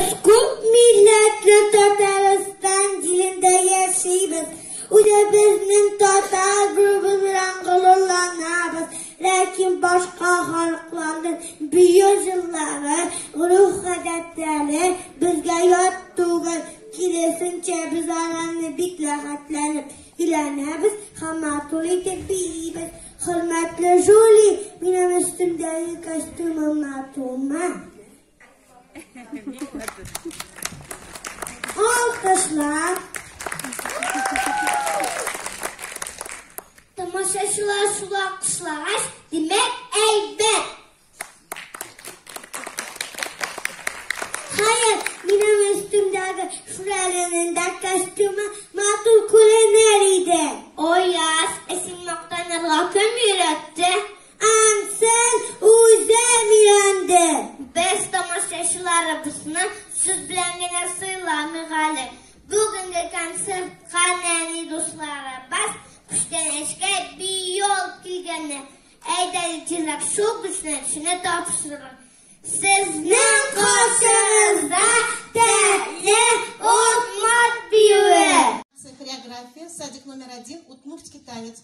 Без күп милләтле Татарстан җирендә яшибез. Үзебезнең татар булуыбыз белән горурланабыз. Ләкин башка халыкларның бию җырлары, гореф-гадәтләре безгә ят түгел. Киресенчә, без аларны бик рәхәтләнеп өйрәнәбез һәм матур итеп биибез. Хөрмәтле Жюли, минем өстемдәге костюмым матурмы? Алкышлар. Тамашачылар шулай алкышлагач, димәк, әйбәт. Хәер, минем өстемдәге шүрәленең дә костюмы матур күренер иде. Ояз, ә син мактанырга кем өйрәтте? Ансын үзем өйрәндем. Без тамашачыларыбызны сүз белән генә сыйламыйк әле. Бүгенге концертка нәни дусларыбыз күчтәнәчкә биол килгәннәр. Әйдәгез җырлап шул күчтәнәчне тапшырырга. Сезнең каршыгызда тәле ут мат биюе. Хореография, садик номер один, удмуртский танец.